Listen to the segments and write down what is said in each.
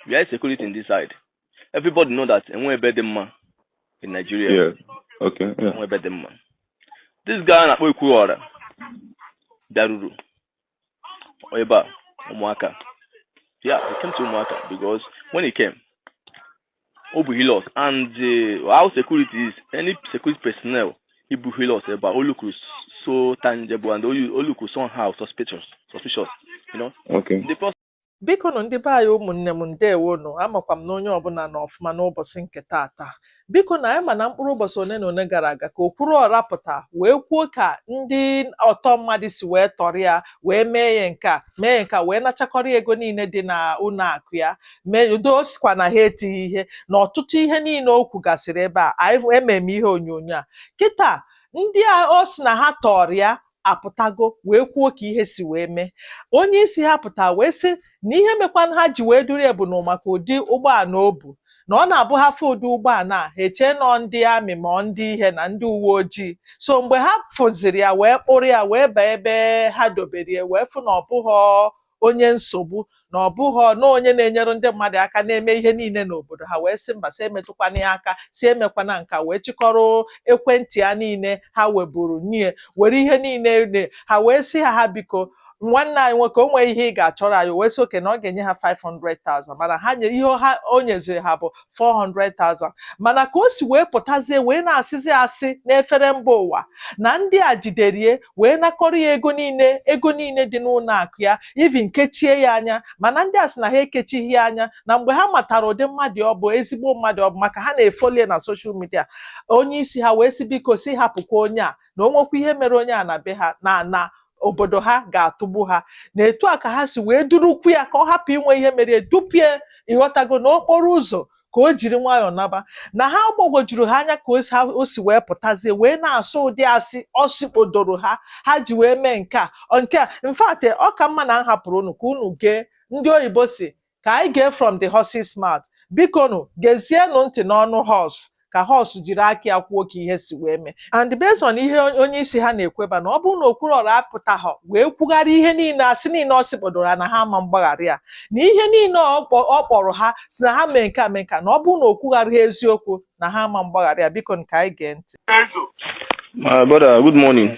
we are security in this side everybody know that enwe ebe dị mma in Nigeria Yeah. Okay. Yeah. enwe ebe dị mma this guy a na-akpọ Okwuruọra bịaruru ebe a Ụmụaka yeah he came to Ụmụaka because when he came o bu Hilux and uh, how security is any security personnel he bu Hilux ebe a o look so tangible and o look somehow suspicious suspicious you know Okay. the person Bikonụ ndị be anyị ụmụnne m ndewonụ amakwa m na onye ọbụla nọ ọfụma n'ụbọsị nke taata biko na anyị ma na mkpụrụ ụbọsị one na one gara aga ka Okwuruọra pụta wee kwuo ka ndị ọtọ mmadụ si wee tọrọ ya wee mee ya nke a mee ya nke a wee nachakọrọ ego niile dị na ụnọ akụ ya mee udo ọ sịkwa na ha etighị ihe na ọtụtụ ihe niile o kwugasịrị ebe a anyị ememe ihe onyonyo a kịta ndị a ọ sị na ha tọrọ ya apụtago wee kwuo ka ihe si wee mee onye isi ha pụta wee sị na ihe mekwanụ ha ji wee duru ya bụ na maka ụdị ụgbọala o bu na ọ na-abụ ha fụ ụdị ụgbọala a ha echee na ọ ndị amị ma ọ ndị ihe na ndị uwe ojii so mgbe ha fụziri ya wee kpụrụ ya wee baa ebe ha dobere ya wee fụ na ọ bụghọ onye nsogbu na ọ bụghọ na onye na-enyere ndị mmadụ aka na-eme ihe niile n'obodo ha wee sị mba sị emetụkwana ya aka sị emekwana nka wee chịkọrọ ekwentị ya niile ha weburu nye ya were ihe niile nye ha wee sị ha ha biko nwanne anyị nwoke o nwee ihe ị ga-achọrọ anyị o wee sị okay na ọ ga-enye ha 500,000 mana ha nye ihe ha o nyeziri ha bụ 400,000 mana ka o si wee pụtazie wee na-asịzi asị n'efere mba ụwa na ndị a jidere ya wee nakọrọ ya ego niile ego niile dị n'ụnọ akụ ya even kechie ya anya mana ndị a sị na ha ekechighị ya anya na mgbe ha matara ụdị mmadụ ọ bụ ezigbo mmadụ ọ bụ maka ha na-efolo ya na soshal midia onye isi ha wee sị biko sị hapụkwa onye a na o nwekwa ihe mere onye a na be ha na ana obodo ha ga-atụgbu ha na etu a ka ha si wee durukwu ya ka ọ hapụ inwe ihe mere ya dupụ ya ịghọtago na okporo ụzọ ka o jiri nwayọọ naba na ha ọ gbagwojuru ha anya ka o si wee pụtazie wee na-asị ụdị asị ọ sịkpodoro ha ha ji wee mee nke a nke a in fact ọ ka mma na m hapụrụ unu ka unu gee ndị oyibo sị ka anyị gee from the horse's mouth bikonụ gezienụ ntị n'ọnụ horse ka horse jiri aka ya kwuo ka ihe si wee mee and based on ihe onye isi ha na-ekwu bụ na ọ bụrụ na Okwuruọra apụtaghọ wee kwugharịa ihe niile asị niile ọ sịkpodoro ha na ha ama mgbaghara ya na ihe niile ọ kpọ- ọ kpọrọ ha sị na ha mee nke a mee nke a na ọ bụrụ na o kwugharịghị eziokwu na ha ama mgbaghara ya bikonụ ka anyị gee ntị My brother, good morning.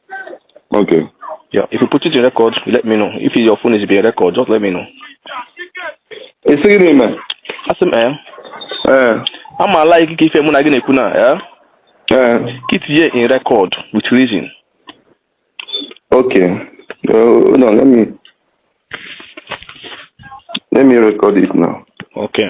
Okay. Yeah, if you put it in record, you let me know. If your phone is being recorded, just let me know. Ị sị gịnị mere? Asị m ee. Ee. Ama ala ikike ife mụ na gị na-ekwu na ee. Ee. Ka i tinye in record with reason. Okay. Uh, no, let me let me record it now. Okay.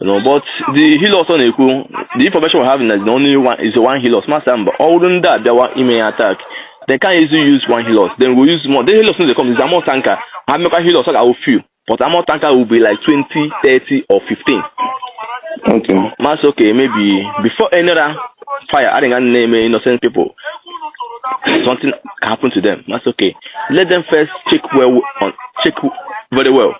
You know, but the helos ọ na-ekwu the information we have is the only one is the one helos masa mba ọ bụrụ ndị a bịawa ime ya attack they can easily use one helos then we use more the helos no dey come is ammo tanker ha mmekwa helos ọ ga-awụ few but ammo tanker will be like 20 30 or 15 Okay. Mass okay, maybe before another fire, I think I name innocent people. Something happened to them. That's okay. Let them first check well on check very well.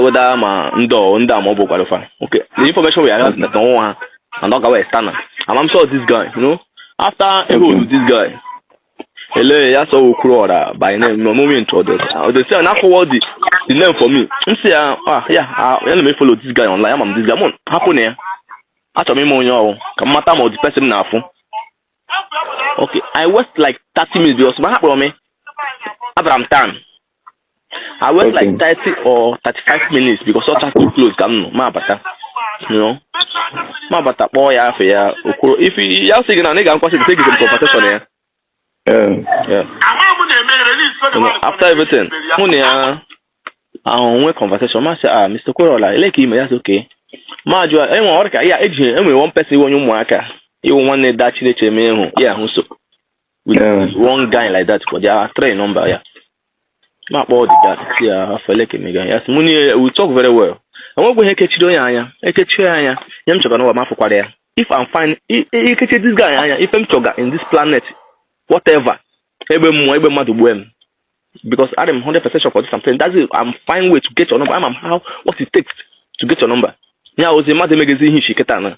whether ma ndị ọ ndị a ma ọ bụkwara fa okay the information we are having na ọnwụ ha and ọ gawa external and I'm sure this guy you know after a hold this guy ele ya sọ Okwuruọra by name no moment or this or they say na forward the the name for me m si ya ah ya ya na me follow this guy online ama m this guy m hapụ na ya achọrọ m ịma onye ọ wụ ka m mata ma ọ the person m na-afụ okay I wait like 30 minutes because ma ha kpọrọ m abara m town I wait okay. like 30 or 35 minutes because all that close ka m nọ ma abata you know ma abata kpọọ ya afọ ya okwuru if ya sị gị na ị ga-akwasị gị gị conversation ya after everything mụ na ya ahụ nwee conversation ma sị ah Mr. Okwuruọra ele ka i me ya sị okay ma jụọ e nwe onye ka ya eji enwere one person e nwe onye ụmụaka iwu nwanne da Chineke eme ịhụ ya ahụ so with yeah. one guy like that but there are three number yeah ma kpọọ the guy sị ya how far ele ka i mega ya sị mụ niile we talk very well enweghị ihe ekechiri onye anya ekechiri anya ihe m chọga n'ụwa m afụkwara ya if I'm fine ikechi this guy anya ife m chọga in this planet whatever egbe mmụọ egbe mmadụ gbue m because I am 100% sure for this I'm saying that's it I'm find way to get your number I'm how what it takes to get your number ya ozi mmadụ emegezi ihe ichi kịta na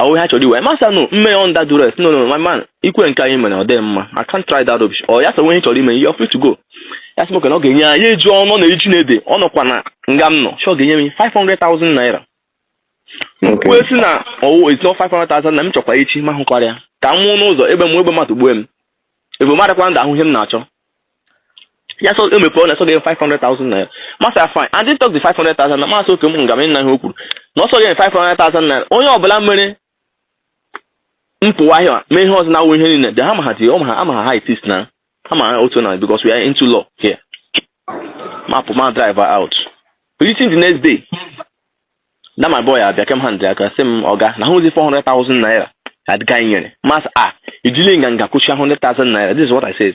Ahụ ihe a chọrọ iwe. Ma sị ya nụ mme ya under duress. No, no, my man, ikwe nke anyị mere ọ dịghị mma. I can't try that rubbish. Ọ ya sawe ihe ị chọrọ ime, you're free to go. Ya sị m okay na ọ ga-enye ya ya eji ọnụ n'ihu nde nọkwa na nga m nọ. Sị ọ ga-enye m 500,000 naira. M kwue sị na ọ wụ it's not 500,000 na m chọkwa echi ma hụkwara ya. Ka m nwụ n'ụzọ egbe mmụọ egbe mmadụ gbue m. Ebe m adịkwa ndụ ahụ ihe m na-achọ. ya so e mepere ọ na-eso gị 500,000 naira ma sị ya fine I took the 500,000 na ma sị okay m nga m ịna ihe o kwuru na ọ sọ gị 500,000 naira onye ọbụla mere mpụwa ahịa mee ihe ọzọ na-awụ ihe niile dị ha ma ha tinye ọ ma ha ama ha ha itis na ha ma ha otu na because we are into law here ma pụ ma drive out reaching the next day na my boy abịa kem hand aka sị m oga na ọ wụzi 400,000 naira adịga nyere ma sị ya i jili nganga kwụchie 100,000 naira this is what I said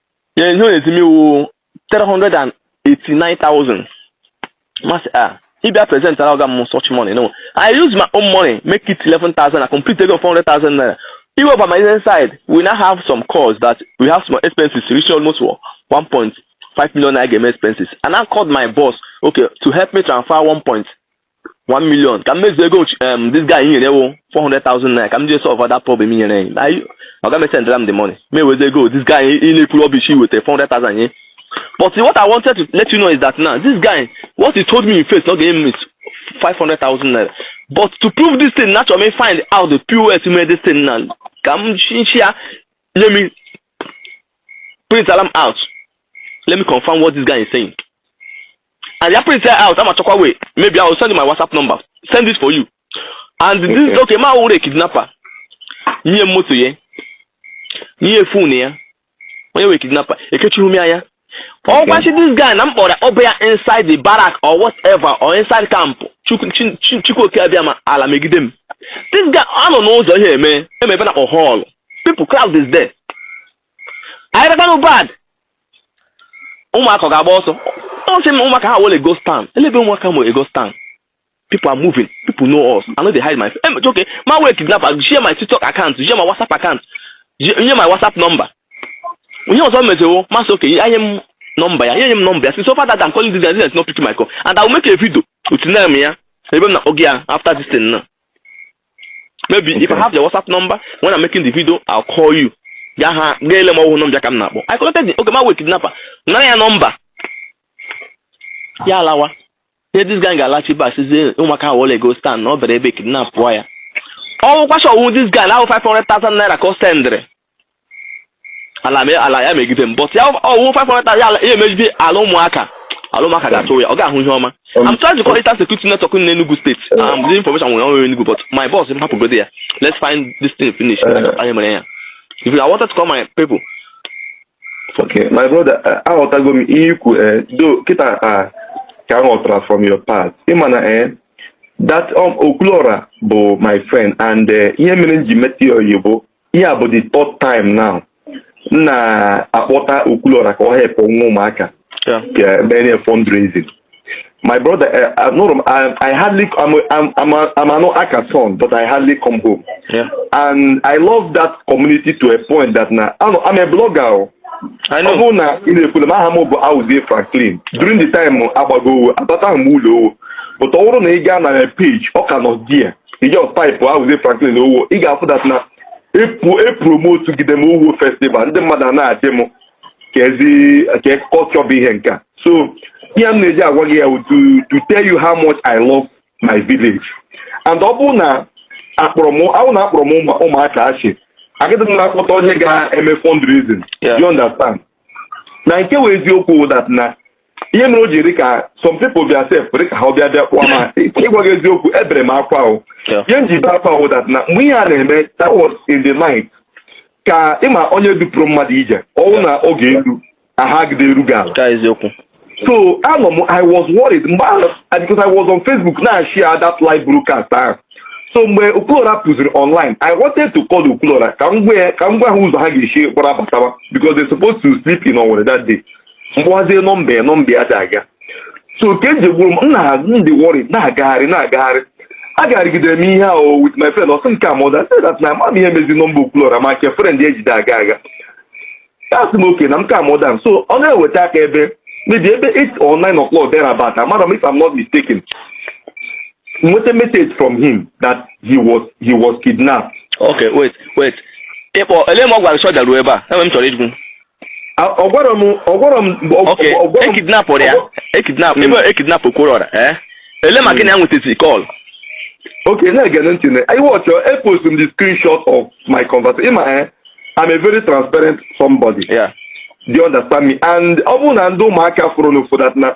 ya ihe ọ na-eti mewu 389,000 masị a ah, ịbịa present ara ọga m such money no I use my own money make it 11,000 na complete ego 400,000 naira iwe by my inside we now have some calls that we have some expenses reaching almost 1.5 million naira game expenses and I called my boss okay to help me transfer 1.5 1 million ka m mezuo ego um, this guy nyere wụ 400,000 naira ka m jee solve that problem nyere anyị na ọ ga-esendra m the money ma ewezi ego this guy ị na-ekwu rubbish wetara 400,000 nye but what I wanted to let you know is that now this guy what he told me in face na ọ ga-enye m 500,000 naira but to prove this thing na chọrọ m find out the pos mee this thing now ka m nchi ya let me print alarm out let me confirm what this guy is saying and ya print ya out ama chọkwa way maybe I will send you my WhatsApp number send it for you and this Okay. okay ma wụrụ kidnapper nye m moto ya nye phone ya onye wee kidnapper ekechihu m anya ọ wụkwa sị this guy na m kpọrọ ọ bụ ya inside the barrack or whatever or inside camp Chukwu- Chi- Chi- chukwuoke abịama ala megide m this guy anọ n'ụzọ ihe eme eme ebe na-akpọ hall people crowd is there anyị rabanụ bad ụmụaka ga-agba ọsọ ọ sị m ụmụaka awọle ghost town elee ebe ụmụaka m were ghost town people are moving people know us i no dey hide my face em okay ma were kidnapper share my tiktok account share my whatsapp account share my whatsapp number ihe ọzọ mezewo ma sị okay nye m nọmba ya enye m nọmba ya si so far that I'm calling this guy is not picking my call and I will make a video with name ya ebe m na-akpọge ya after this thing now maybe okay. if I have your WhatsApp number when I'm making the video I'll call you ya ha gaa ele m ọ wụhụ nọmba ka m na-akpọ I connected the okay ma wee kidnapper nara ya nọmba ya alawa ihe this guy ga-alachi back sizie ụmụaka awọle ghost town na ọ bere ebe kidnap pụọ ya ọ wụkwa sị ọ wụ this guy na ahụ 500,000 naira ka ọ sendịrị ala me- ala ya megide m but ya ọ wụ 500,000 ya ala- ya emegide ala ụmụaka ala ụmụaka ga-atụ ya ọ ga-ahụ ihe ọma I'm trying to call Eastern Security Network in Enugu State. Um, the information we only Enugu, but my boss didn't happen to go there. Let's find this thing finished. Uh. I am here. If you- I wanted to call my people, Okay, my brother, uh, aghọtago m ihe i kwu eh, though kịta uh, ka m ghọtara from your part ị ma na eh, that um, okwulọra bụ my friend and eh, ihe mere m ji meta ya oyi bụ ihe a bụ the third time now m na-akpọta okwulọra ka ọ helpụ nwa ụmụaka Yeah. uh, mere ya fundraising. My brother, uh, uh, no, no, I, I hardly, I'm, a- I'm, I'm, a, I'm an Aka son, but I hardly come home. Yeah. And I love that community to a point that now, I know, I'm a blogger. oh. I Ọ know. bụrụ na ị na-efollow m aha m bụ Awuzie Franklin during the time a gbaga owu abataha m ụlọ owu but ọ bụrụ na ị gaa na my page ọ ka nọ there ị just typụ awuzie franklin owu ị ga-afụ that na epromotugide m owu festival ndị mmadụ a na-asị m ka ezi ka culture bụ ihe nke a so ihe m na-eji agwa gị ya wụ to to tell you how much i love my village and ọ bụrụ na akpọrọ m ahụ na akpọrọ m ụmụ- ụmụaka achị agịdị m na-akpọta onye ga-eme fundraising Yeah. you understand na nke wụ eziokwu wụ that na ihe mere o ji dị ka some people bịa sef dị ka ha ọbịa bịa kpụọ ma ịgwa gị eziokwu ebere m akwa ahụ Yeah. ihe m ji bee akwa ahụ that na mgbe ihe a na-eme that was in the night ka ịma onye dupụrụ mmadụ ije ọnwụ na oge elu ahụ agaghị dị eru gị ala ka eziokwu so anọ m i was worried mgbe ahụ and because i was on facebook na-share that live broadcast ahụ so mgbe Okwuluọra pụziri online i wanted to call Okwuluọra ka m gwa ya- ka m gwa ha ụzọ ha ga-esi gbara bataba because they supposed to sleep in Owerri that day m kpọwazie nọmba ya nọmba ya adị aga so nke nje gwuru m nna ha m dị worried na-agagharị na-agagharị agagharịgidere m ihe ahụ with my friend ọsị nke a mọda sị that na ama m ihe mezi nọmba Okwuluọra ma nke friend ejide aga aga asị m okay na m ka mọda so ọ na-eweta aka ebe maybe ebe 8 or 9 o'clock thereabout amara m if I'm not mistaken m nweta message from him that he was he was kidnapped okay wait wait ịkpọ Ele Mmagwa so daruo ebe a enwe m chọrọ ịjụ ọ gwara m ọ gwara m Okay, ọ gwara m ekidnapụrụ ya ọ- ekidnap Mm. ebe ekidnap Okwuruọra eh ele ma gị na ya nwetazi call Okay, now again, don't you know? I watch your epost m the screenshot of my conversation. In my eh, I'm a very transparent somebody. ya Do you understand me? And ọ bụrụ na ndị ụmụaka fụrụ n'ofu that na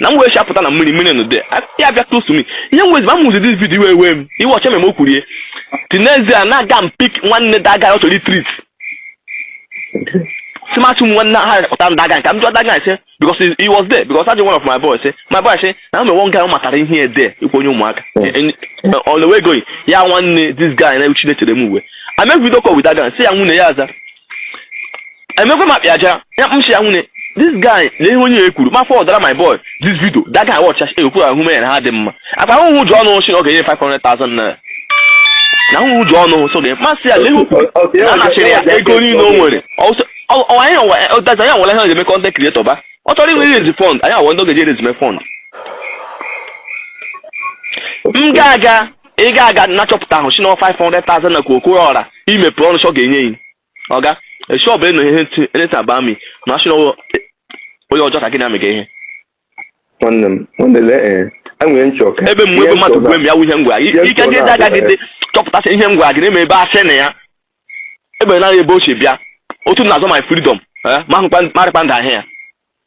na m wee chapụta na mmiri mmiri nụde ya abịa close me ihe m wezima m ụzi this video iwe ewe m iwe ọcha meme o kwurie the next day na-aga m pick nwanne that guy ọ chọrọ itrit smart m nwanne ha kpọta m that guy ka m jụọ that guy ọ sị because he was there because ajụ one of my boys eh, my boy say na me one guy matara ihe ede ikwu onye ụmụaka hmm. eh, eh, on the way going ya nwanne this guy na uchi na-echere m uwe I make video call with that guy say ya nwanne ya aza emekwa ma kpịa aja ya m shi ya nwanne this guy lee onye ya kwuru mafọ ọdara my boy this video that guy watch ya okwu ahụ mee na ha dị mma akpa ahụhụ ụjọ ọnụ ọ shị na ọ ga-enye 500,000 naira na ahụhụ ụjọ ọnụ so oga m asị ya lee okwu na anachiri ya ego niile o nwere anyị ọdazi anyị nwere ha ga-eme content creator ba ọ chọrọ inwe iraise fund anyị awụ ndị ọ ga-eji eraise me fund m ga-aga ị ga-aga na-achọpụta ahụ si na 500,000 na Okwuruọra imepe ọrụ sọ ga-enye yi oga esi ọbụla ịnọ ihe ntị eleta ba mi na asị na ọ- onye ọjọọ ka gị na-amị gị ihe nwanne m nwanne lee ee enwere nchọ ka ebe mgbe ebe mmadụ gwue m ya wụ ihe ngwa Ihe ike ntọ gị dị na-abịa, agaghị dị chọpụtasị ihe ngwa gị na-eme ebe asị na ya ebe naghị ebe ochie bịa otu m na-azọ my freedom eh, ma hụkwa marịkwa ndụ ahịa ya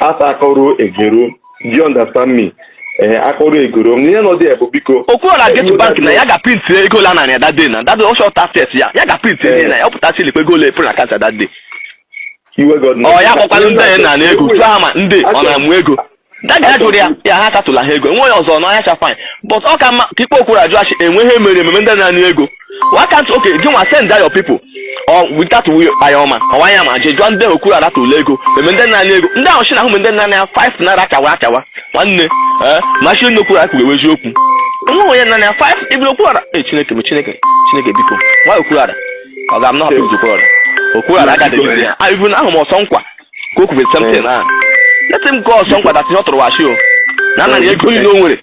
as akọrọ egero do you understand me ee akọrọ egoro m ihe nọ dị ya bụ biko Okwuruọra get to bank na ya ga-printị ego ole a narị ya that day na that day ọ short access ya ya ga-printị ihe na ya ọ pụtasị ilikwa ego ole epere na account that day iwe god ọ ya kpọkwara ndị anyị na na ego tụọ ha ma ndị ọ na-amụ ego that guy ya jụrụ ya ya ha katụla ha ego enweghị ọzọ n'ọhịa cha fine but ọ ka mma ka ịkpọ Okwuruọra jụọ asị enweghị emere ememe ndị na-anụ ego why can't okay gị nwa send your people or without anyị ọma ọwa anya ma jee jụọ ndị ahụ Okwuruọra tụrụ ego meme ndị nna ego ndị ahụ si na ahụ ndị nna ya five naira akawa akawa nwanne ee machi ndị Okwuruọra ga-ewe eziokwu nwa onye nna ya five even Okwuruọra ee chineke bụ chineke chineke biko nwa Okwuruọra ọga I'm not happy Okwuruọra Okwuruọra aka dịgide ya even ahụ m ọsọ nkwa ka o kwubere something ahụ let him go ọsọ nkwa that ọ tụrụ washi o na anaghị ego niile o nwere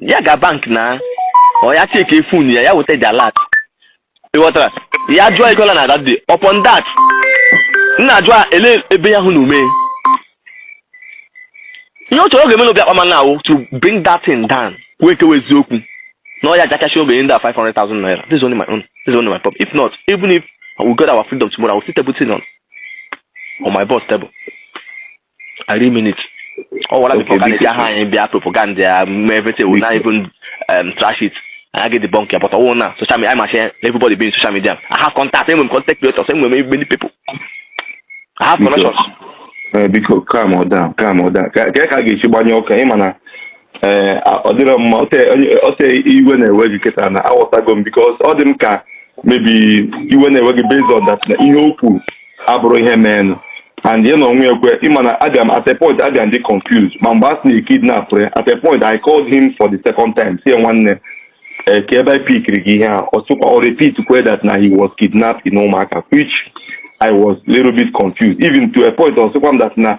ya ga bank na ọ ya check phone ya ya weta the alert ị ghọtara ya draw ego na that day upon that na draw a, ele ebe ya hụ na o me ihe ọ chọrọ oge melo bịa kpama na awụ to bring that thing down kwuo nke wụ eziokwu na ọ ya jakachi oge ndị a 500,000 naira this is only my own this is only my problem if not even if we got our freedom tomorrow I will still table thing on on my boss table I really mean it. Ọ wara before ka na-eji aha anyị bịa propaganda ya mee everything we not even um, trash it. I get the bunker but I won't now. Social media, I'm share everybody being social media. I have contact, same with content creators, same with many people. I have connections. Eh, biko calm down calm down ka ka ka a ga-esi gbanye okay ị ma na ee ọ dịrọ mma ọte onye- ọte iwe na-ewe gị kịta na aghọtago m because ọ dị m ka maybe iwe na-ewe gị based on that na ihe o kwuru abụrụ ihe meenụ and ya na onwe ya kwe ị ma na abịa m at a point abịa m dị confused ma mgbe a sị na e kidnap ya at a point I called him for the second time sị ya nwanne eh, kee ebe e pikiri gị ihe a ọ sịkwa ọ repeat kwe that na he was kidnapped in Ụmụaka which I was little bit confused even to a point ọ sịkwa m that na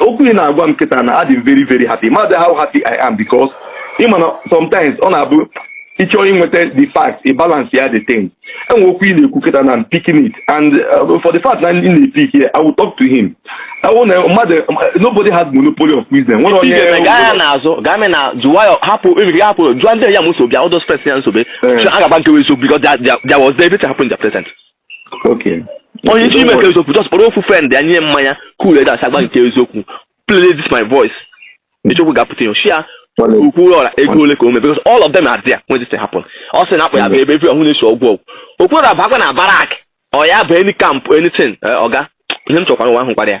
okwu ị na-agwa m kịta na adị m very very happy mother how happy I am because ị ma na sometimes ọ na-abụ ị chọọ inweta the fact ị balance ya the thing and okwu ị na-ekwu kịta na I'm picking it and uh, for the fact na ị na-epick ya I will talk to him ọ wụ na mmadụ nobody has monopoly of wisdom nwere onye Igwe gaa ya n'azụ gaa mee na jụwa ya hapụ ebiri ya hapụ jụọ ndị ya m nsogbu ya ụdọ stress ya nsogbu Eh. a ga-agba nke wụ eziokwu because there- there there was there everything happened in the present Okay. onye isi ime ka eziokwu just kpọrọ ofu friend ya nye mmanya cool ya down sị ya gba nke eziokwu play this my voice eziokwu ga-apụta ihe share Well, it- Okwuruọra ego ole ka o mee because all of them are there when this thing happen ọ sị na akpa ya bụ ebe ebi ọhụrụ na-esi ọgwụ ọgwụ Okwuruọra bakwa na barrack ọ ya bụ any camp anything eh, ọga ihe m chọkwara nwa ahụ kwara ya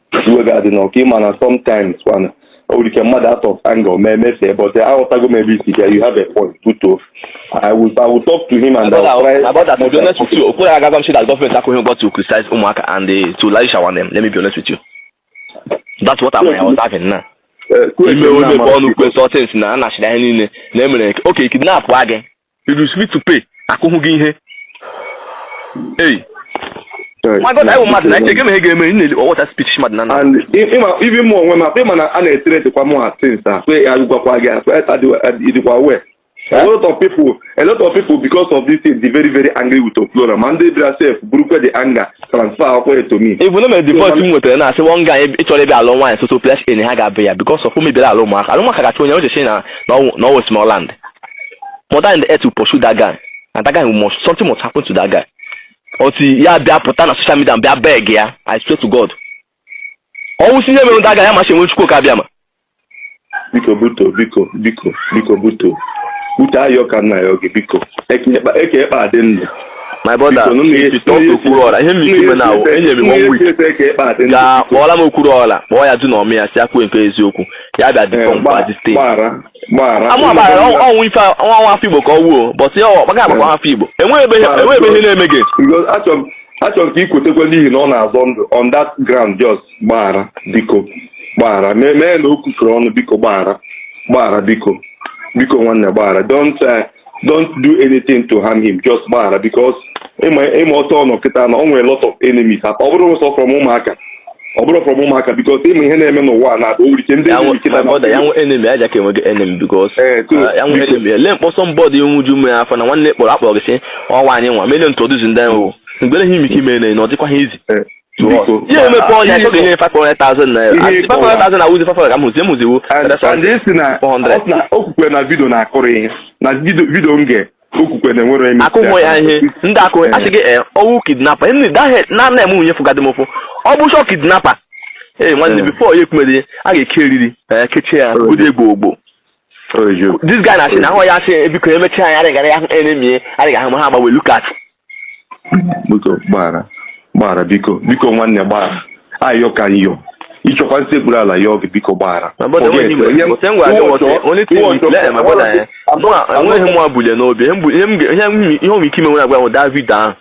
iwe ga-adị na okay ị ma na sometimes kwana o nwere ike mmadụ out of anger mee mefee but aghọtago m ebe i si bịa you have a point too I will, I will talk to him and I will try about that, to be honest with you, Okwuruọra agwago m shi that government are going to criticize Umuaka and uh, to Laisha one them. Let me be honest with you. That's what I'm, I was having now. Eh, kwuo ime etu onye na-ama bụ ọnụ kwe some things na anachiri anyị niile na e mere ka e kidnap gị if you sleep to pay akụhụ gị ihe ei my god anyị bụ mmadụ na echege m ihe ga-eme nne ọwọta speech mmadụ na na and i- ịma ibi mụ onwe m akpa ịma na a na-etere dịkwa mụ atins a kwe ya gwakwa gị akpa ịdịkwa we a lot of people a lot of people because of this thing dey very very angry with okwuluora ma ndị bịara sef burukwe the anger transfer akwụkwọ to me even o mere divorce m nwetara na asị one guy ịchọrọ ebe alụ nwaanyị soso place in ha ga-abụ ya because of o mebiri ala ụmụaka ala ụmụaka ga-achụ onye o cheche na na ọwụ- na ọwụ small land mother earth will pursue that guy and that guy must something must happen to that guy until ya bịa pụta na social media bịa beg ya i swear to god ọnwụ si ihe mere that guy ya masị enwe chukwu okike abịama biko buto biko biko biko buto buto ayọ ka m na-ayọ gị biko eke ekpe adị ndụ my brother okwuluora ihe mmiri ime na awụ enyere m one week ga kpọọla m okwuluora kpọọ ya du na ọmị ya si kwuo nke eziokwu ya bịa dị kọmpa dị steeti amụabara o nwe ife nwa nwa afọ igbo ka ọ wụ o but ya ọkpaga agbakwa afọ igbo enweghị ebe ihe na-eme gị achọrọ ka i kwetekwa n'ihi na ọ na-azọ ndụ on that ground just gbaghara biko gbaghara mee na o kwufere ọnụ biko gbaghara gbaghara biko biko nwanne gbaghara don't uh, don't do anything to harm him just gbaghara because ịma ịma otu ọ nọ kịta na ọ nwere lot of enemies at ọ bụrọ sọ from ụmụaka ọ bụrọ from ụmụaka because ịma ihe na-eme n'ụwa a na-ada o nwere ike ndị ya enemy nwe kịta my brother ya na nwe enemy aja ka enweghị enemy because Eh, so, ah, ya nwe biko. enemy ele m kpọọ somebody iwe ju mmiri afọ na nwanne kpọrọ akpọrọ gị sị ọwa anyị one million introduce ndị ahụ mgbere ha ime ike ime na ọ dịkwa ha easy Eh, ihe emepe ọnya ịchọ ga-enye 500,000 naira 500,000 na wụzị 500 ka m hụzi emuziwo si na o kwukwe na video na a kọrọ ihe na video nke o kwukwe na enwere eme akụ nwe ya ihe ndị akụ asị gị ọ wụ kidnapper na nna m nwunye fụgadị m ụfụ ọ bụ shọ kidnapper ee nwanne before ya ekwumere a ga-eke eriri kechie ya ụdị egbo ogbo this guy na-asị na ahụ ya asị biko emechi anyị adịghị ya enemy adịghị ahụ ma ha agbanwe lukas biko gbaghara gbaghara biko biko nwanne gbaghara ayọ ka m na-ayọ ị chọkwa m sekpuru ala yọọ gị biko gbaghara enweghị m ebule n'obi ihe nwere ike ime nwere agwa david ahụ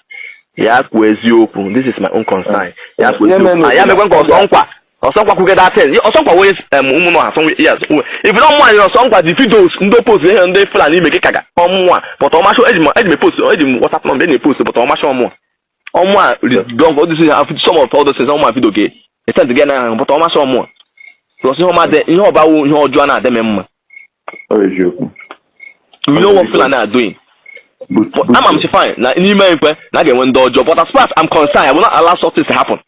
ya kwuo eziokwu this is my own concern ya kwuo eziokwu ya mekwa nke ọsọnkwa ọsọnkwa kwuge that thing ọsọnkwa wey um, ụmụnụ ha sọnwe yes if you don't mind ọsọnkwa the videos ndị post ihe ndị fulani ime gị kaga ọmụnwa but ọmasho eji m eji m post eji m whatsapp number eji m post but ọmasho ọmụnwa ọmụnwa don all this thing have some of all those things ọmụnwa video gị etent gị na ahụ but ọmasho ọmụnwa plus ihe ọma dị ihe ọbawo ihe ọjọọ na-adị m mma you know what fulani are doing ama m si fine na n'ime ekwe na a ga-enwe ndị ọjọọ but as far as i'm concerned i will not allow such things to happen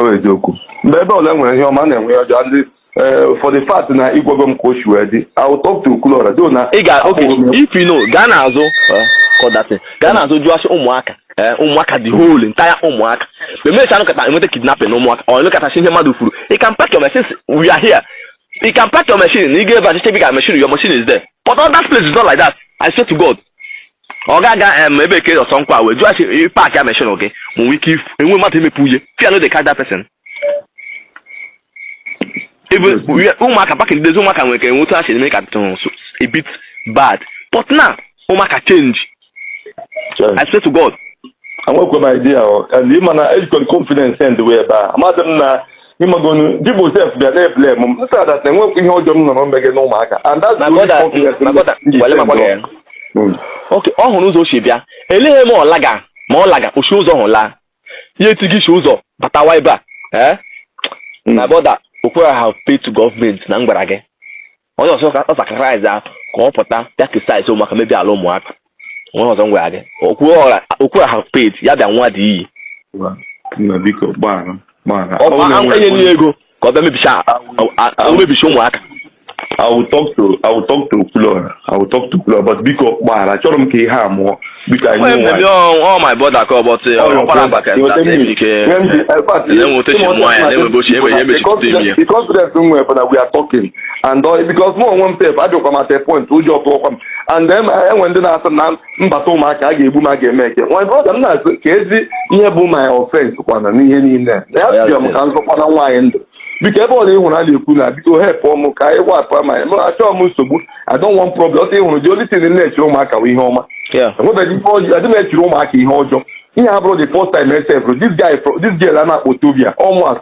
Ọ bụ eziokwu. Mgbe ebe ọla nwere ihe ọma, a na-enwe ihe ọjọọ. And eh, for the fact na ị gwago m ka o si wee dị, I will talk to Okwuluọra, though na ị ga oke akwụghị m ya. if you know gaa n'azụ eh, kọdasị gaa n'azụ jụọ asị ụmụaka eh, ụmụaka the whole entire ụmụaka ma emechaa nụkọta enweta kidnapping na ụmụaka ọ nụkọtasị ihe mmadụ kwuru you can park your machine we are here you can park your machine na ị ga-ebe achịcha bi ka machine your machine is there but all that place is not like that I swear to God ọ ga-aga em ebe ke ọsọ nkwa wee jụọ sị paakịa machine gị ma nwee ike if- enwe mmadụ imepe uye fear no dey catch that person ebe uye- ụmụaka back in the days ụmụaka nwere ka enwe otu ha si eme ka tụrụ so a bit bad but now ụmụaka change i swear to god enwekwe m idea ọ and ị ma na ejikọrọ confidence end wee ebe a amadị m na ị magonu people sef bịa na-eblame m m sị ha that enwekwa ihe ọjọọ m nọrọ megị na ụmụaka and that's the only Magoda, confidence m Magoda, ji wale send makwado ya. on. Mm. okay ọ hụrụ ụzọ o si bịa eleghị m ọ laga ma ọ laga o si ụzọ hụ laa ya etighị isi ụzọ batawa ebe a ee Mm. my brother Okwuluọra have paid to government na m gwara gị onye ọzọ ka ọ sacrifice a ka ọ pụta ya criticize ụmụaka mebi ala ụmụaka onye ọzọ m gwara gị Okwuluọra have paid ya bịa nwa dị iyi Wa, nna biko gbaghara gbaghara ọ bụ a- enye nye ego ka ọ bịa mebicha a- a- a- mebicha ụmụaka I will talk to I will talk to Okwuluora I will talk to Okwuluora but biko gbaghara achọrọ m ka ihe a nwụọ Biko anyị Mgbe nwe mbebi anyị. ọ my brother ka ọ bọtụ ya, ọ kwara mba ka Your nta enemy. ike. When the- eh, but Na enwe otu si ịma ọcha mụọ ya, na enwe bụ otu ebe ya emechi Because kutu imi ya. the confidence m nwere bụ na we are talking and uh, because mụ onwe m sef adịkwa m at a point ụjọ tụọkwa m and then eh, enwe ndị na-asị na m bata ụmụaka a ga-egbu m a ga-eme eke nwa brother m na-asị kezi ihe bụ my offense kwana n'ihe niile na abịa m ka m zọkwana nwaanyị ndụ biko ebe ọla ịhụrụ a na-ekwu na biko helpụ m ka anyị wapụ ama ya achọọ m nsogbu I don't want problem ọsọ ịhụrụ the only thing na-echiri ụmụaka bụ ihe ọma enwebeghị ihe ọjọọ adị m echiri ụmụaka ihe ọjọọ ihe a bụrụ the first time m sef this guy this girl a na-akpọ Tobia ọ mụa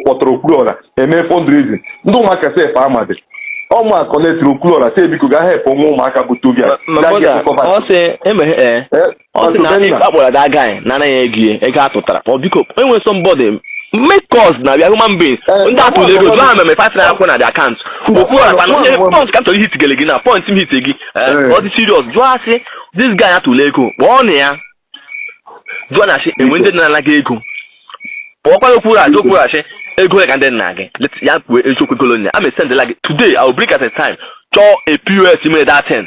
kpọtara Okwuruọra eme fundraising ndị ụmụaka sef amadị ọ mụa connectiri Okwuruọra sị biko ga helpụ nwa ụmụaka bụ Tobia ọ sị emeghe ọ sị na ndị akpọrọ that guy nara ya ego ego a tụtara ọ biko enwere somebody make calls na we are human being eh, ndị atụrụ ego jụọ ha mere five naira kwụọ na the account Okwuruọra kwana onye point ka m chọrọ ihit gele gị na point m hit gị eh, eh. ọ dị serious jụọ asị this guy atụrụ ego kpọọ na ya jụọ na asị enwe ndị nara gị ego kpọọkwa Okwuruọra jụọkwa asị ego ya ka ndị nna gị ya kwuo eziokwu golonia a mesendela gị today i will bring at a time chọọ a POS mere that thing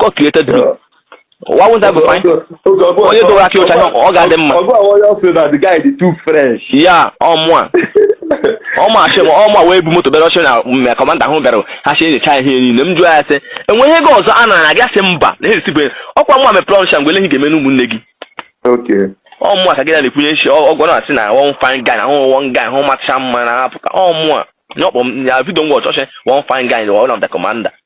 God created me. Why won't I be fine? Onye dọwara aka ọcha ọ ga-adị mma. Ọgụ ahụ onye ọsọ na the guy dị too fresh. Yeah ọ mụa. Ọ mụa chị m ọ mụa wee bu moto bịara ọchị na my kọmanda ahụ bịara ha si enyecha ihe niile m jụọ ya sị enweghị ego ọzọ a nara gị asị mba na esikwe ọkwa mụa mepere ọnụcha mgbe eleghị ga-eme n'ụmụnne gị. Ọ mụa ka gị na na-ekwunye nshi ọgwọ na asị na one fine guy na ahụ one guy ahụ macha mma na apụta ọ mụa. N'ọkpọ m ya vidio m wọchọchị one fine guy na one of the commander.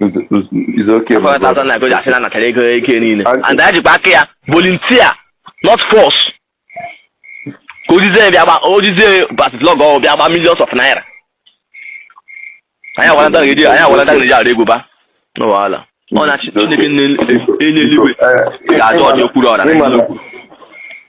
It's okay. my brother. 400,000 naira ka o ji asị na anatara ego eke niile And- and anyị jikwa aka ya volunteer not force ka o jizie ya bịa gba o jizie basitlọg ọ bịa gba millions of naira anyị agwara ndị ga-eji anyị agwara ndị ga-eji ara egwu ba no wahala ọ na-achị Chineke na-enye eluigwe ga-ajọ ọdị Okwuruọra Ịma na-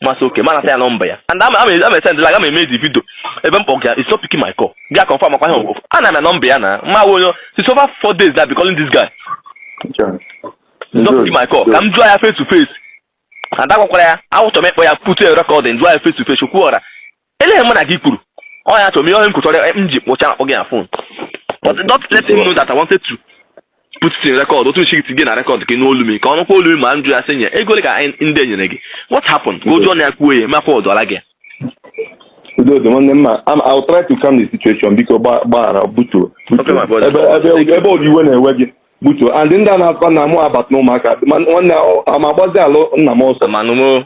m asị okay m anata ya nọmba ya and ama esend la aga m emezi vidio ebe m kpọga ya he's not picking my call bịa confirm ọkwa ihe ọgwụgwụ ana m nọmba ya na ma onye it's over four days na I've been calling this guy he's not picking my call ka m jụọ ya face to face and agwakwara ya achọ m ịkpọ ya put a record and jụọ ya face to face Okwuruọra Ele ihe mụ na gị kwuru. Ọ ya chọrọ m ihe onye m kwụchọrọ m ji kpọcha akpọ gị na fon. But not let him know that I wanted to put it in record. Otu nchi gị na record gị n'olu m ka ọ nụkwa olu m ma m jụọ ya sị nye ego ole ka anyị ndị enyere gị. What happened? Ka o ji ọnụ ya kwuo ya makwa ọdụọla gị. Udo dị nwanne m ma I'm- I'll try to calm the situation biko gba- gbaghara butuo Okay, my brother. ebe ebe- ebe ụdị iwe na-ewe gị butuo and ndị a na-akwa na mụ abata n'Ụmụaka ma nwanne a ma agbazi ala nna m ọsọ Amanu mo.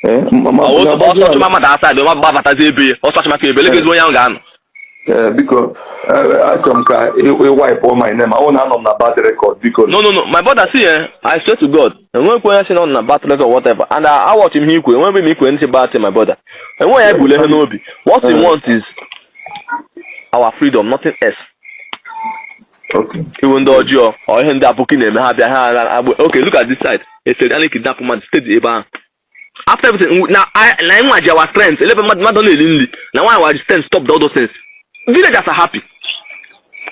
Eh, ma- ma- Ọwụ ma agbazi ọsọ ala- chụma mmadụ asaa dị ma gbabatazi be ya. Ọsọ chụma ka ebe legezi onye ahụ ga-anọ. Eh, biko eh, achọrọ m ka ị wipe-ụọ my name ọ na anọ m na bad record biko No no no my brother see eh I swear to God enwekwa onye sị na ọ nọ na bad record or whatever and I watch him ikwe enweghị m ike anything bad to my brother. Enweghị ya ebule ihe n'obi. What we want is our freedom nothing else. iwu ndị ọjọọ ọ ihe ndị aboki na-eme ha bịa ha agba okay look at this side esere a na-ekidnap mmadụ steady ebe ahụ after everything na na nwa ji our strength elebe mmadụ mmadụ na-eri nri na nwa ji our strength stop all those things villagers are happy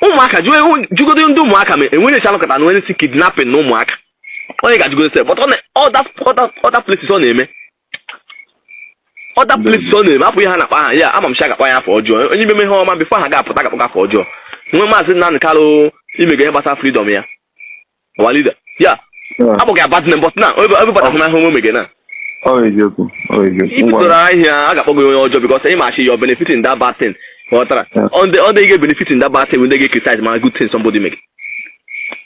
Ụmụaka jụgodu ndị Ụmụaka ma enwere echi anọkọta na e nwezi kidnapping n'Ụmụaka onye ga-ajụgodu sef but all that other places ọ na-eme other places ọ na-eme hapụ ihe ha na-akpọ aha ya ama m sị a ga-akpọ ya afa ọjọọ onye imeme ihe ọma before ha ga-apụta ga-akpọ afa ọjọọ nwe maazị Nnamdị Kalụ imega ihe gbasara freedom ya our leader ya akpọga ya bad name but now everybody hụ na ahụ nwe mege na Ọ bụ eziokwu. Ọ bụ eziokwu. Ngwa. ibidoro ahịa a ga-akpọ gị onye ọjọọ because anyị machi your benefit in that bad thing ghọtara Yeah. ọ ndị ga-ebenefit in that bad thing ndị ga-criticize ma good thing somebody make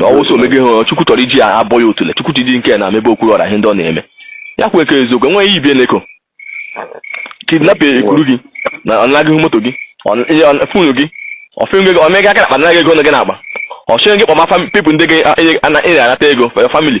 ọwụsọ omego ihe ọ chukwu tọrọ iji ya abọ ya otule chukwu tidi nke na mebe Okwuruọra ihe ndị ọ na-eme ya kwue ka eziokwu enweghị ihe ibie na-eko kidnap e kuru gị na ọ naa gị moto gị ọ- ihe ọ- phone gị ọfịngo gị o mee gị aka n'akpa naa gị ego nọ gị n'akpa ọ sị gị kpọma fam- people ndị gị a- enye- ana- ị na-anata ego for your family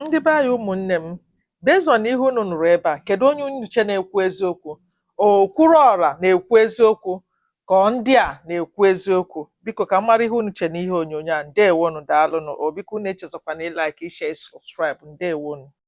Ndị be anyị ụmụnne m, based on ihe unu nụrụ ebe a, kedu onye unu che na-ekwu eziokwu? Okwuruọra na-ekwu eziokwu ka ọ ndị a na-ekwu eziokwu? Biko ka m mara ihe unu che n'ihe onyonyo a. Ndewonu, daalụnụ. O biko unu echezọkwana ịlike, ishare, subscribe. Ndewonu.